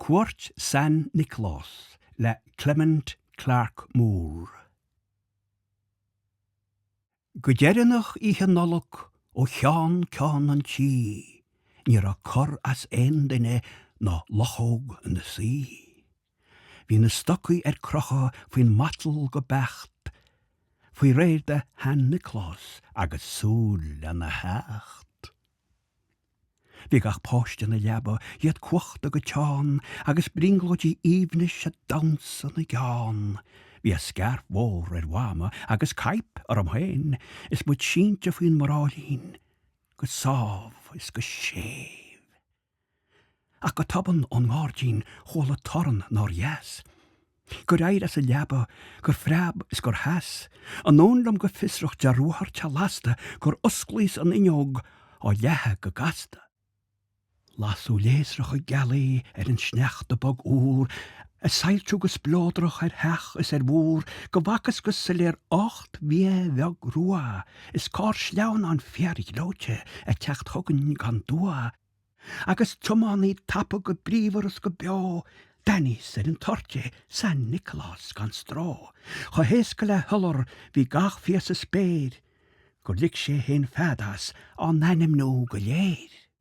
Cuairt San Nioclás le Clement Clarke Moore. Go deireanach Oíche Nollag ó cheann ceann an tí ní raibh cor as aon duine ná luchóg ina suí. Bhí na stocaí ar crochadh faoin matal go beacht, faoi réir do Shan Nioclás agus súil lena theacht. Bhí gach páiste ina leaba, iad cuachta go teann, agus brionglóidí aoibhnis ag damhsa ina gceann. Bhí a scairf mhór ar Mhama agus caidhp orm féin, is muid sínte faoin mbráillín go sámh is go séimh. Ach go tobann ón ngairdín chuala torann nár dheas, Gur éirigh as an leaba, gur phreab is gur sheas, Anonn liom go fiosrach de ruathar te lasta Gur osclaíos an fhuinneog á leathadh go gasta. Lasadh léasracha gealaí ar an sneachta bog úr ag soilsiú go spleodrach ar theach is ar mhúr go bhfacthas go soiléir ocht bhfia bheag rua is carr sleamhnáin fíorghleoite ag teacht chugainn gan dua agus tiománaí tapa go bríomhar is go beo, d'aithníos ar an toirt é, San Nioclás gan stró, chomh héasca le hiolar bhí gach fia sa spéir gur lig sé fhéin fead as á n-ainmniú go léir.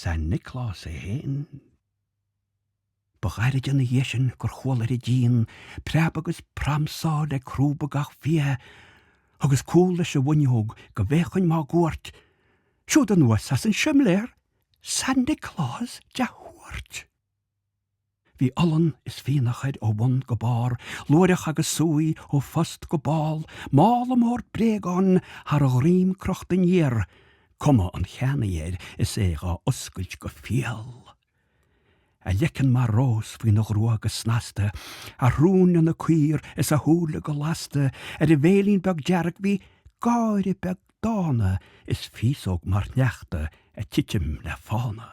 San Nioclás é fhéin. Ba ghairid ina dhiaidh sin gur chuala ar an díon preab agus pramsáil ag crúba gach fia. Thugas cúl leis an bhfuinneog go bhféachfainn máguaird. Siúd anuas as an simléar! San Nioclás de thuairt! Bhí olann is fionnadh air ó bhun go barr, luaithreach agus súiche ó phost go ball, mála mór bréagán thar a dhroim crochta aniar, cuma an cheannaí air is é dhá oscailt go fial. A leiceann mar rós faoina ghrua go snasta, a shrón ina caor is a shúile go lasta, ar a bhéilín beag dearg bhí gáire beag dána is féasóg mar shneachta ag titim le fána.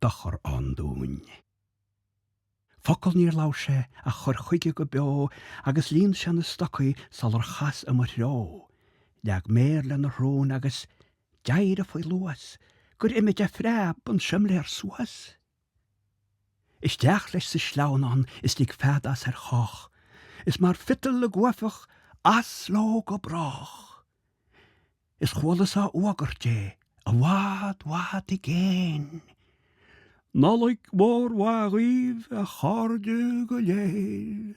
dochar ann dúinn. Focal níor labhair sé ach chuir chuige go beo agus líon sé na stocaí sular chas i mo threo, leag méar lena shrón agus d'éirigh faoi luas gur imigh de phreab an simléar suas. Isteach leis sa sleamhnán is lig fead as ar chách, is mar phiotal i gcuaifeach as leo go brách! Is chualas á fhuagradh é i bhfad bhfad i gcéin. Nollaig mhór mhaith dhaoibh a chairde go léir.